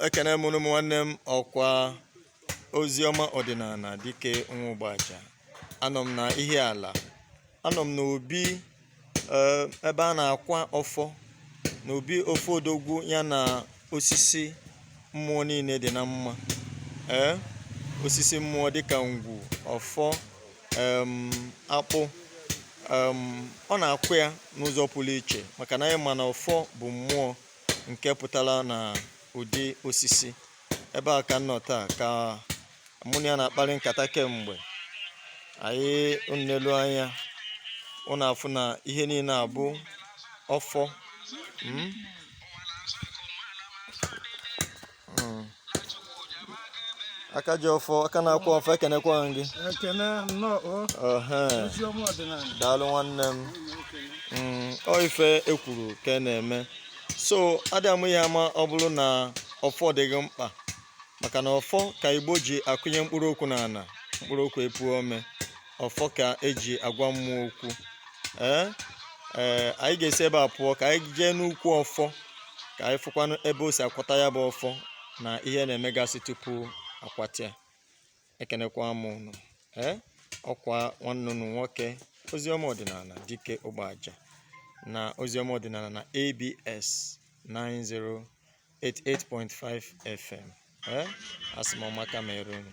ekene m unu ụmụ nwanne m ọkwa oziọma ọdịnala dike nwa ụgbaja anọ m na ihiala anọ m n'obi eh, ebe a na-akwa ọfọ n'obi ofe odogwu ya na osisi mmụọ niile dị na mma ee eh, osisi mmụọ dịka ngwu ọfọ akpụ ọ na-akwa ya n'ụzọ pụrụ iche maka na anyị ma na ọfọ bụ mmụọ nke pụtara na ụdị osisi ebe a ka m nọ taa ka mụ na ya na-akparị nkata kemgbe anyị nelu anya ụnụ afụ na ihe niile a bụ ọfọ hmm? hmm. aka ji ọfọ aka na-akwa ọfọ ekenekwa gị daalụ nwanne m hmm, ọ ife ekwuru ka a na-eme so adị amụ ihe a ma ọ bụrụ na ọfọ dịghị mkpa maka na ọfọ ka igbo ji akụnye mkpụrụ okwu n'ala mkpụrụ okwu epuo ome ọfọ ka eji agwa mmụọ okwu ee ee anyị ga-esi ebe a pụọ ka anyị jee n'ukwu ọfọ ka anyị fụkwanụ ebe o si akwata ya bụ ọfọ na ihe na-emegasị tupu akwata ya ekenekwa m ụnụ ee ọkwa nwanne ụnụ nwoke oziọma ọdịnala dike ụgbaja na oziọma ọdịnala na abs 9088.5 fm ee asị m ọma ka mere unu